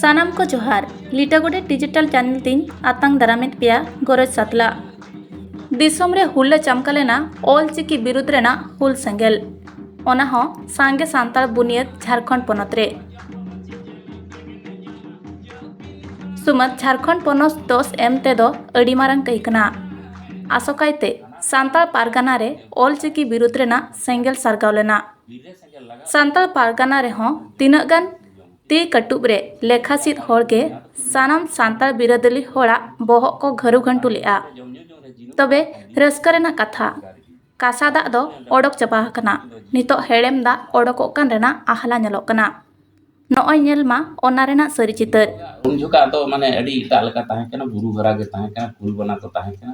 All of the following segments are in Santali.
ᱥᱟᱱᱟᱢ ᱠᱚ ᱡᱚᱦᱟᱨ ᱞᱤᱴᱟᱹ ᱜᱚᱰᱮᱛ ᱰᱤᱡᱤᱴᱟᱞ ᱪᱮᱱᱮᱞ ᱛᱤᱧ ᱟᱛᱟᱝ ᱫᱟᱨᱟᱢᱮᱫ ᱯᱮᱭᱟ ᱜᱚᱨᱚᱡᱽ ᱥᱟᱛᱞᱟ ᱫᱤᱥᱚᱢ ᱨᱮ ᱦᱩᱞᱞᱟᱹ ᱪᱟᱢᱠᱟ ᱞᱮᱱᱟ ᱚᱞ ᱪᱤᱠᱤ ᱵᱤᱨᱩᱫᱽ ᱨᱮᱱᱟᱜ ᱦᱩᱞ ᱥᱮᱸᱜᱮᱞ ᱚᱱᱟ ᱦᱚᱸ ᱥᱟᱸᱜᱮ ᱥᱟᱱᱛᱟᱲ ᱵᱩᱱᱤᱭᱟᱹᱫ ᱡᱷᱟᱲᱠᱷᱚᱸᱰ ᱯᱚᱱᱚᱛ ᱨᱮ ᱥᱩᱢᱟᱹᱫ ᱡᱷᱟᱲᱠᱷᱚᱸᱰ ᱯᱚᱱᱚᱛ ᱫᱚᱥ ᱮᱢ ᱛᱮᱫᱚ ᱟᱹᱰᱤ ᱢᱟᱨᱟᱝ ᱠᱟᱹᱭ ᱠᱟᱱᱟ ᱟᱥᱚᱠᱟᱭᱛᱮ ᱥᱟᱱᱛᱟᱲ ᱯᱟᱨᱜᱟᱱᱟ ᱨᱮ ᱚᱞ ᱪᱤᱠᱤ ᱵᱤᱨᱩᱫᱽ ᱨᱮᱱᱟᱜ ᱥᱮᱸᱜᱮᱞ ᱥᱟᱨᱜᱟᱣ ᱞᱮᱱᱟ ᱥᱟᱱᱛᱟᱲ ᱯᱟᱨᱜᱟᱱᱟ ᱨᱮᱦᱚᱸ ᱛᱤᱱᱟᱹᱜ ᱜᱟᱱ ᱛᱤ ᱠᱟᱹᱴᱩᱵ ᱨᱮ ᱞᱮᱠᱷᱟ ᱥᱤᱫ ᱦᱚᱲ ᱜᱮ ᱥᱟᱱᱟᱢ ᱥᱟᱱᱛᱟᱲ ᱵᱤᱨᱟᱹᱫᱟᱹᱞᱤ ᱦᱚᱲᱟᱜ ᱵᱚᱦᱚᱜ ᱠᱚ ᱜᱷᱟᱹᱨᱩ ᱜᱷᱟᱹᱱᱴᱩ ᱞᱮᱫᱼᱟ ᱛᱚᱵᱮ ᱨᱟᱹᱥᱠᱟᱹ ᱨᱮᱱᱟᱜ ᱠᱟᱛᱷᱟ ᱠᱟᱥᱟ ᱫᱟᱜ ᱫᱚ ᱚᱰᱚᱠ ᱪᱟᱵᱟ ᱟᱠᱟᱱᱟ ᱱᱤᱛᱚᱜ ᱦᱮᱲᱮᱢ ᱫᱟᱜ ᱚᱰᱚᱠᱚᱜ ᱠᱟᱱ ᱨᱮᱱᱟᱜ ᱟᱦᱞᱟ ᱧᱮᱞᱚᱜ ᱠᱟᱱᱟ ᱱᱚᱜᱼᱚᱭ ᱧᱮᱞ ᱢᱟ ᱚᱱᱟ ᱨᱮᱱᱟᱜ ᱥᱟᱹᱨᱤ ᱪᱤᱛᱟᱹᱨ ᱩᱱ ᱡᱚᱠᱷᱟᱜ ᱫᱚ ᱢᱟᱱᱮ ᱟᱹᱰᱤ ᱮᱴᱟᱜ ᱞᱮᱠᱟ ᱛᱟᱦᱮᱸ ᱠᱟᱱᱟ ᱵᱩᱨᱩ ᱜᱷᱮᱨᱟ ᱜᱮ ᱛᱟᱦᱮᱸ ᱠᱟᱱᱟ ᱠᱩᱞ ᱵᱟᱱᱟ ᱠᱚ ᱛᱟᱦᱮᱸ ᱠᱟᱱᱟ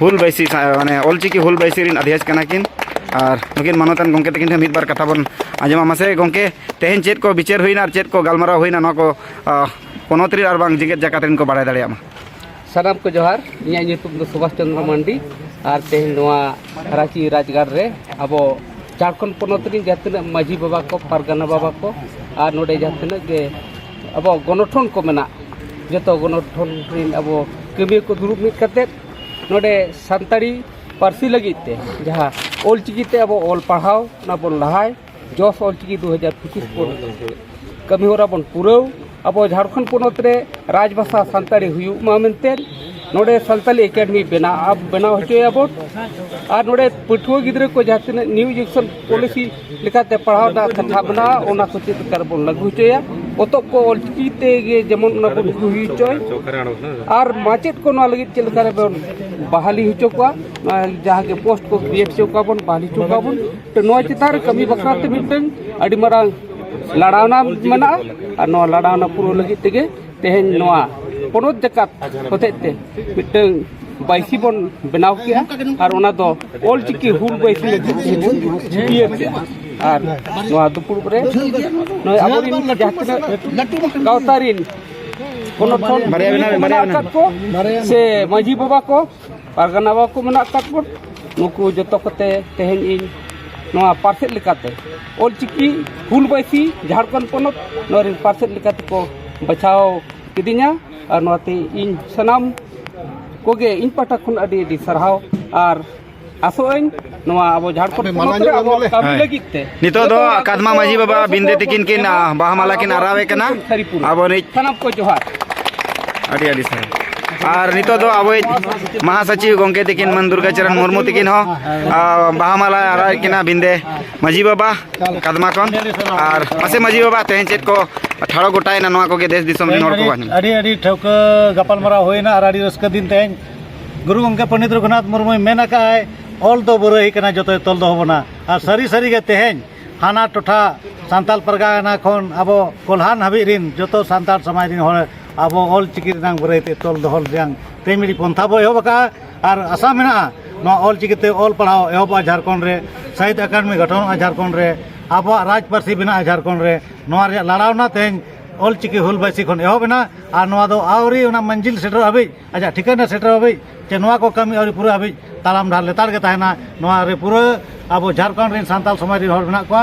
ᱦᱩᱞ ᱵᱟᱹᱭᱥᱤ ᱢᱟᱱᱮ ᱚᱞᱪᱤᱠᱤ ᱦᱩᱞ ᱵᱟᱹᱭᱥᱤ ᱨᱮᱱ ᱟᱹᱫᱷᱤᱭᱟᱹ ᱠᱟᱱᱟ ᱠᱤᱱ ᱟᱨ ᱱᱩᱠᱤᱱ ᱢᱟᱱᱚᱛᱟᱱ ᱜᱚᱢᱠᱮ ᱛᱟᱹᱠᱤᱱ ᱴᱷᱮᱱ ᱢᱤᱫ ᱵᱟᱨ ᱠᱟᱛᱷᱟ ᱵᱚᱱ ᱟᱸᱡᱚᱢᱟ ᱢᱟᱥᱮ ᱜᱚᱢᱠᱮ ᱛᱮᱦᱮᱧ ᱪᱮᱫ ᱠᱚ ᱵᱤᱪᱟᱹᱨ ᱦᱩᱭᱱᱟ ᱟᱨ ᱪᱮᱫ ᱠᱚ ᱜᱟᱞᱢᱟᱨᱟᱣ ᱦᱩᱭᱱᱟ ᱱᱚᱣᱟ ᱠᱚ ᱯᱚᱱᱚᱛ ᱨᱮ ᱟᱨ ᱵᱟᱝ ᱡᱮᱜᱮᱛ ᱡᱟᱠᱟᱛ ᱨᱮᱱ ᱠᱚ ᱵᱟᱲᱟᱭ ᱫᱟᱲᱮᱭᱟᱜ ᱢᱟ ᱥᱟᱱᱟᱢ ᱠᱚ ᱡᱚᱦᱟᱨ ᱤᱧᱟᱹᱜ ᱧᱩᱛᱩᱢ ᱫᱚ ᱥᱩᱵᱷᱟᱥ ᱪᱚᱱᱫᱨᱚ ᱢᱟᱱᱰᱤ ᱟᱨ ᱛᱮᱦᱮᱧ ᱱᱚᱣᱟ ᱨᱟᱺᱪᱤ ᱨᱟᱡᱽᱜᱟᱲ ᱨᱮ ᱟᱵᱚ ᱡᱷᱟᱲᱠᱷᱚᱸᱰ ᱯᱚᱱᱚᱛ ᱨᱮᱱ ᱡᱟᱦᱟᱸ ᱛᱤᱱᱟᱹᱜ ᱢᱟᱹᱡᱷᱤ ᱵᱟᱵᱟ ᱠᱚ ᱯᱟᱨᱜᱟᱱᱟ ᱵᱟᱵᱟ ᱠᱚ ᱟᱨ ᱱᱚᱰᱮ ᱡᱟᱦᱟᱸ ᱛᱤᱱᱟᱹᱜ ᱜᱮ ᱟᱵᱚᱣᱟᱜ ᱜᱚᱱᱚᱴᱷᱚᱱ ᱠᱚ ᱢᱮᱱᱟᱜ ᱡᱚᱛᱚ ᱜᱚᱱᱚᱴᱷᱚᱱ ᱨᱮᱱ ᱟᱵᱚ ᱠᱟᱹᱢᱤᱭᱟᱹ ᱠᱚ ᱫᱩᱲᱩᱵ ᱢᱤᱫ ᱠᱟᱛᱮᱫ ᱱᱚᱰᱮ ᱥᱟᱱᱛᱟᱲᱤ ᱯᱟᱹᱨᱥᱤ ᱞᱟᱹᱜᱤᱫ ᱛᱮ ᱡᱟᱦᱟᱸ ᱚᱞ ᱪᱤᱠᱤ ᱛᱮ ᱟᱵᱚ ᱚᱞ ᱯᱟᱲᱦᱟᱣ ᱚᱱᱟ ᱵᱚᱱ ᱞᱟᱦᱟᱭ ᱡᱚᱥ ᱚᱞ ᱪᱤᱠᱤ ᱫᱩ ᱦᱟᱡᱟᱨ ᱯᱚᱸᱪᱤᱥ ᱵᱚᱱ ᱠᱟᱹᱢᱤ ᱦᱚᱨᱟ ᱵᱚᱱ ᱯᱩᱨᱟᱹᱣ ᱟᱵᱚ ᱡᱷᱟᱲᱠᱷᱚᱸᱰ ᱯᱚᱱᱚᱛ ᱨᱮ ᱨᱟᱡᱽ ᱵᱷᱟᱥᱟ ᱥᱟᱱᱛᱟᱲᱤ ᱦᱩᱭᱩᱜ ᱢᱟ ᱢᱮᱱᱛᱮ ᱱᱚᱰᱮ ᱥᱟᱱᱛᱟᱲᱤ ᱮᱠᱟᱰᱮᱢᱤ ᱵᱮᱱᱟᱣ ᱵᱮᱱᱟᱣ ᱦᱚᱪᱚᱭᱟᱵᱚᱱ ᱟᱨ ᱱᱚᱰᱮ ᱯᱟᱹᱴᱷᱩᱣᱟᱹ ᱜᱤᱫᱽᱨᱟᱹ ᱠᱚ ᱡᱟᱦᱟᱸ ᱛᱤᱱᱟᱹᱜ ᱱᱤᱭᱩ ᱮᱰᱩᱠᱮᱥᱚᱱ ᱯᱚᱞᱤᱥᱤ ᱞᱮᱠᱟᱛᱮ ᱯᱟᱲᱦᱟᱣ ᱨᱮᱱᱟᱜ ᱠᱟᱛᱷᱟ ᱢᱮᱱᱟᱜᱼᱟ ᱚᱱᱟ ᱠᱚ ᱪᱮᱫ ᱞᱮᱠᱟ ᱨᱮᱵᱚᱱ ᱞᱟᱹᱜᱩ ᱦᱚᱪᱚᱭᱟ ᱯᱚᱛᱚᱵ ᱠᱚ ᱚᱞ ᱪᱤᱠᱤ ᱛᱮᱜᱮ ᱡᱮᱢᱚᱱ ᱚᱱᱟ ᱵᱚᱱ ᱞᱟᱹᱜᱩ ᱦᱩᱭ ᱦᱚᱪᱚᱭ ᱟᱨ ᱢᱟᱪᱮᱫ ᱠᱚ ᱱᱚᱣᱟ ᱞᱟᱹᱜᱤᱫ ᱪᱮᱫ ᱞᱮᱠᱟ ᱨᱮᱵᱚᱱ ᱵᱟᱦᱟᱞᱤ ᱦᱚᱪᱚ ᱠᱚᱣᱟ ᱡᱟᱦᱟᱸ ᱜᱮ ᱯᱳᱥᱴ ᱠᱚ ᱠᱨᱤᱭᱮᱴ ᱦᱚᱪᱚ ᱠᱚᱣᱟ ᱵᱚᱱ ᱵᱟᱦᱟᱞᱤ ᱦᱚᱪᱚ ᱠᱚᱣᱟ ᱵᱚᱱ ᱛᱚ ᱱᱚᱣᱟ ᱪᱮᱛᱟᱱ ᱨᱮ ᱠᱟᱹᱢᱤ ᱵᱟᱠᱷᱨᱟ ᱛᱮ ᱢᱤᱫᱴᱟᱝ ᱟᱹᱰᱤ ᱢᱟᱨᱟᱝ ᱞᱟᱲᱟᱣᱱᱟ ᱢᱮᱱᱟᱜᱼᱟ ᱟᱨ ᱱᱚᱣᱟ ᱞᱟᱲᱟᱣᱱᱟ ᱯᱩᱨᱟᱹᱣ ᱞᱟᱹᱜᱤᱫ ᱛᱮᱜᱮ ᱛᱮᱦᱮᱧ ᱱᱚᱣᱟ ᱯᱚᱱᱚᱛ ᱡᱟᱠᱟᱛ ᱦᱚᱛᱮᱡ ᱛᱮ ᱢᱤᱫᱴᱟᱝ ᱵᱟᱭᱥᱤ ᱵᱚᱱ ᱵᱮᱱᱟᱣ ᱠᱮᱜᱼᱟ ᱟᱨ ᱚᱱᱟ ᱫᱚ ᱚᱞ ᱪᱤᱠᱤ ᱦᱩᱞ ᱵᱟᱭᱥᱤ ᱪᱷᱩᱴᱤᱭᱟᱹ ᱠᱮᱜᱼᱟ ᱟᱨ ᱱᱚᱣᱟ ᱫᱩᱯᱲᱩᱵ ᱨᱮ ᱱᱚᱜᱼᱚᱭ ᱟᱵᱚᱨᱮᱱ ᱡᱟᱦᱟᱸ ᱛᱤᱱᱟᱹᱜ ᱜᱟᱶᱛᱟ ᱨᱮᱱ ᱯᱚᱱᱚᱛ ᱠᱷᱚᱱ ᱢᱮᱱᱟᱜ ᱟᱠᱟᱫ ᱠᱚ ᱥᱮ ᱢᱟᱺᱡᱷᱤ ᱵᱟᱵᱟ ᱠᱚ ᱯᱟᱨᱜᱟᱱᱟ ᱵᱟᱵᱟ ᱠᱚ ᱢᱮᱱᱟᱜ ᱟᱠᱟᱫ ᱵᱚᱱ ᱱᱩᱠᱩ ᱡᱚᱛᱚ ᱠᱚᱛᱮ ᱛᱮᱦᱮᱧ ᱤᱧ ᱱᱚᱣᱟ ᱯᱟᱨᱥᱮᱫ ᱞᱮᱠᱟᱛᱮ ᱚᱞ ᱪᱤᱠᱤ ᱦᱩᱞ ᱵᱟᱹᱭᱥᱤ ᱡᱷᱟᱲᱠᱷᱚᱸᱰ ᱯᱚᱱᱚᱛ ᱱᱚᱣᱟ ᱨᱮᱱ ᱯᱟᱨᱥᱮᱫ ᱞᱮᱠᱟᱛᱮ ᱠᱚ ᱵᱟᱪᱷᱟᱣ ᱠᱤᱫᱤᱧᱟ ᱟᱨ ᱱᱚᱣᱟᱛᱮ ᱤᱧ ᱥᱟᱱᱟᱢ ᱠᱚᱜᱮ ᱤᱧ ᱯᱟᱦᱴᱟ ᱠᱷᱚᱱ ᱟᱹᱰᱤ ᱟᱹᱰᱤ ᱥᱟᱨᱦᱟᱣ ᱟᱨ ᱟᱥᱚᱜᱼᱟᱹᱧ ᱱᱚᱣᱟ ᱟᱵᱚ ᱡᱷᱟᱲᱠᱷᱚᱸᱰ ᱯᱚᱱᱚᱛ ᱨᱮ ᱟᱵᱚ ᱠᱟᱹᱢᱤ ᱞᱟᱹᱜᱤᱫ ᱛᱮ ᱱᱤᱛᱚᱜ ᱫᱚ ᱠᱟᱫᱢᱟ ᱢᱟᱹᱡᱷᱤ ᱵᱟᱵᱟ ᱵᱤᱱᱫᱮ ᱛᱤᱠᱤᱱ ᱠᱤᱱ ᱵᱟᱦᱟ ᱢᱟᱞᱟ ᱠᱤᱱ ᱟᱨᱟᱣᱮ ᱠᱟᱱᱟ ᱟᱵᱚ ᱨᱤᱡ ᱥᱟᱱᱟᱢ ᱠᱚ ᱡᱚᱦᱟᱨ ᱟᱹᱰᱤ ᱟᱹᱰᱤ ᱥᱟᱨᱦᱟᱣ ᱟᱨ ᱱᱤᱛᱚᱜ ᱫᱚ ᱟᱵᱚ ᱢᱟᱦᱟᱥᱚᱪᱤᱵ ᱜᱚᱢᱠᱮ ᱛᱤᱠᱤᱱ ᱢᱟᱹᱱ ᱫᱩᱨᱜᱟ ᱪᱚᱨᱚᱱ ᱢᱩᱨᱢᱩ ᱛᱤᱠᱤᱱ ᱦᱚᱸ ᱵᱟᱦᱟ ᱢᱟᱞᱟ ᱟᱨᱟᱣᱮ ᱠᱤᱱᱟ ᱵᱤᱱᱫᱮ ᱢᱟᱹᱡᱷᱤ ᱵᱟᱵᱟ ᱠᱟᱫᱢᱟ ᱠᱷᱚᱱ ᱟᱨ ᱢᱟᱥᱮ ᱢᱟᱹᱡᱷᱤ ᱵᱟᱵᱟ ᱛᱮᱦᱮᱧ ᱪᱮᱫ ᱠᱚ ᱴᱷᱟᱲᱚ ᱜᱚᱴᱟᱭᱮᱱᱟ ᱱᱚᱣᱟ ᱠᱚᱜᱮ ᱫᱮᱥ ᱫᱤᱥᱚᱢ ᱨᱮᱱ ᱦᱚᱲ ᱠᱚ ᱟᱹᱰᱤ ᱟᱹᱰᱤ ᱴᱷᱟᱹᱣᱠᱟᱹ ᱜᱟᱯᱟᱞᱢᱟᱨᱟᱣ ᱦᱩᱭᱱᱟ ᱟᱨ ᱟᱹᱰᱤ ᱨᱟᱹᱥᱠᱟᱹ ᱫᱤᱱ ᱛᱮᱦᱮᱧ ᱜᱩᱨᱩ ᱜᱚᱢᱠᱮ ᱯᱚᱱᱰᱤᱛ ᱨᱚᱜᱷᱩᱱᱟᱛᱷ ᱢᱩᱨᱢᱩᱭ ᱢᱮᱱ ᱟᱠᱟᱫ ᱟᱭ ᱚᱞ ᱫᱚ ᱵᱩᱨᱟᱹᱭ ᱠᱟᱱᱟ ᱡᱚᱛᱚᱭ ᱛᱚᱞ ᱫᱚᱦᱚ ᱵᱚᱱᱟ ᱟᱨ ᱥᱟᱹᱨᱤ ᱥᱟᱹᱨᱤ ᱜᱮ ᱛᱮᱦᱮᱧ ᱦᱟᱱᱟ ᱴᱚᱴᱷᱟ ᱥᱟᱱᱛᱟᱲ ᱯᱟᱨᱜᱟᱱᱟ ᱠᱷᱚᱱ ᱟᱵᱚ ᱠᱚᱞᱦᱟᱱ ᱦᱟᱹᱵᱤᱡ ᱨᱤᱱ ᱡᱚᱛᱚ ᱥᱟᱱᱛᱟᱲ ᱥᱚᱢᱟᱡᱽ ᱨᱤᱱ ᱦᱚᱲ ᱟᱵᱚ ᱚᱞ ᱪᱤᱠᱤ ᱨᱮᱱᱟᱝ ᱵᱩᱨᱟᱹᱭ ᱛᱮ ᱛᱚᱞ ᱫᱚᱦᱚ ᱨᱮᱱᱟᱝ ᱛᱮ ᱢᱤᱫ ᱯᱚᱱᱛᱷᱟ ᱵᱚ ᱮᱦᱚᱵ ᱟᱠᱟᱫᱼᱟ ᱟᱨ ᱟᱥᱟ ᱢᱮᱱᱟᱜᱼᱟ ᱱᱚᱣᱟ ᱚᱞ ᱪᱤᱠᱤ ᱛᱮ ᱚᱞ ᱯᱟᱲᱦᱟᱣ ᱮᱦᱚᱵᱚᱜᱼᱟ ᱡᱷᱟᱲᱠᱷᱚᱸᱰ ᱨᱮ ᱥᱟᱦᱤᱛ ᱟᱠᱟᱰᱮᱢᱤ ᱜᱚᱴᱷᱚᱱᱚᱜᱼᱟ ᱡᱷᱟᱲᱠᱷᱚᱸᱰ ᱨᱮ ᱟᱵᱚᱣᱟᱜ ᱨᱟᱡᱽ ᱯᱟᱹᱨᱥᱤ ᱵᱮᱱᱟᱜᱼᱟ ᱡᱷᱟᱲᱠᱷᱚᱸᱰ ᱨᱮ ᱱᱚᱣᱟ ᱨᱮᱭᱟᱜ ᱞᱟᱲᱟᱣᱱᱟ ᱛᱮᱦᱮᱧ ᱚᱞ ᱪᱤᱠᱤ ᱦᱩᱞ ᱵᱟᱭᱥᱤ ᱠᱷᱚᱱ ᱮᱦᱚᱵ ᱮᱱᱟ ᱟᱨ ᱱᱚᱣᱟ ᱫᱚ ᱟᱹᱣᱨᱤ ᱚᱱᱟ ᱢᱚᱧᱡᱤᱞ ᱥᱮᱴᱮᱨᱚᱜ ᱦᱟᱹᱵᱤᱡ ᱟᱪᱪᱷᱟ ᱴᱷᱤᱠᱟᱹᱱ ᱨᱮ ᱥᱮᱴᱮᱨᱚᱜ ᱦᱟᱹᱵᱤᱡ ᱥᱮ ᱱᱚᱣᱟ ᱠᱚ ᱠᱟᱹᱢᱤ ᱟᱹᱣᱨᱤ ᱯᱩᱨᱟᱹᱜ ᱦᱟᱹᱵᱤᱡ ᱛᱟᱲᱟᱢ ᱰᱟᱦᱟᱨ ᱞᱮᱛᱟᱲ ᱜᱮ ᱛᱟᱦᱮᱱᱟ ᱱᱚᱣᱟ ᱨᱮ ᱯᱩᱨᱟᱹ ᱟᱵᱚ ᱡᱷᱟᱲᱠᱷᱚᱸᱰ ᱨᱮᱱ ᱥᱟᱱᱛᱟᱲ ᱥᱚᱢᱟᱡᱽ ᱨᱮᱱ ᱦᱚᱲ ᱢᱮᱱᱟᱜ ᱠᱚᱣᱟ